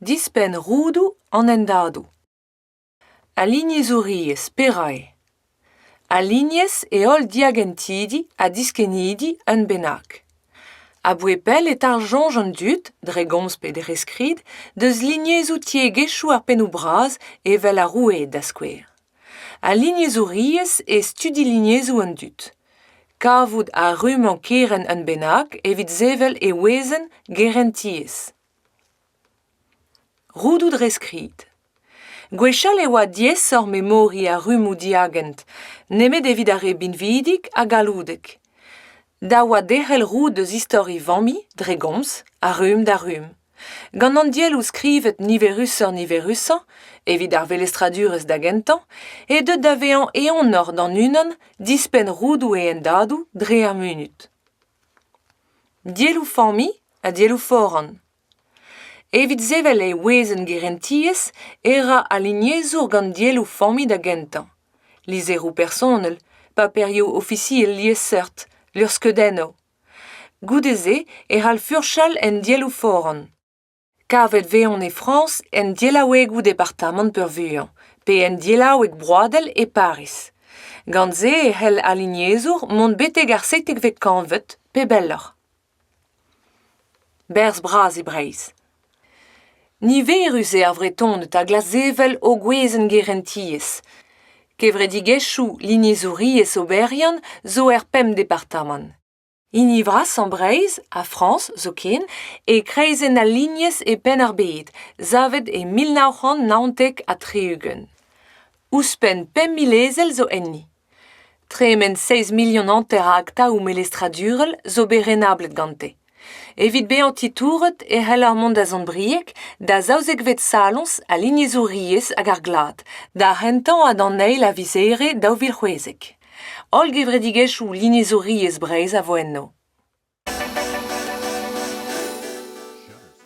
Dispenn roudoù an hendadoù. Alignezhouriezh Perak eo? Alignez e holl diagentidi ha diskennidi un bennak. A-bouez pell e tarsoñj an dud, dre gomz pe dre skrid, deus lignezhoù tiegezhioù ar pennoù bras evel ar roueed da skouer. Al lignezouriezh e studi lignezoù an dud. Kavout a rummañ kerent un bennak evit sevel e wezenn gerentiezh. Roudoù dre skrid. Gwechall e oa diaesoc'h memoriñ ar rummoù diagent, nemet evit ar re binvidik ha galloudek. Da oa derc'hel roud eus istor e familh dre gomz, a rumm da rumm. Gant an dielloù skrivet niverusoc'h-niverusañ evit ar velestradurezh da gentañ eo deuet da vezañ eeunoc'h d'an unan dispenn roudoù e hendadoù dre ar munud. Dielloù-familh ha dielloù foran. Evit sevel e wezenn gerentiezh e ra al lignezour gant dielloù-familh da gentañ, lizheroù personel, paperioù ofisiel liesseurt, luc'hskeudennoù. Goude-se e c'hall furchal en dielloù foran. Kavet eo e Frañs en delaouegoù departamant peurvuiañ, pe en delaoueg broadel e Pariz. Gant se e c'hell al lignezour mont betek ar seitekvet kantved, pe belloc'h. Berzh bras e Breizh. Niverus eo ar Vretoned ha glasvevel o gwezenn-gerentiezh. Kevredigezhioù lignezouriezh oberiant zo er pemp departamant. Hini vrasañ Breizh ha Frañs zoken eo kreizenn al lignez e Penn-ar-Bed, savet e mil nav c'hant naontek ha tri-ugent. Ouzhpenn pemp mil ezel zo enni. Tremen seizh milion hanter a aktaoù melestradurel zo bet renablet gante. Evit bezañ titouret e c'heller mont da Sant-Brieg da zaouzekvet saloñs al lignezouriezh hag ar glad, d'ar c'hentañ ha d'an eil a viz Here daou vil c'hwezek. Holl gevredigezhioù lignezouriezh Breizh a vo enno.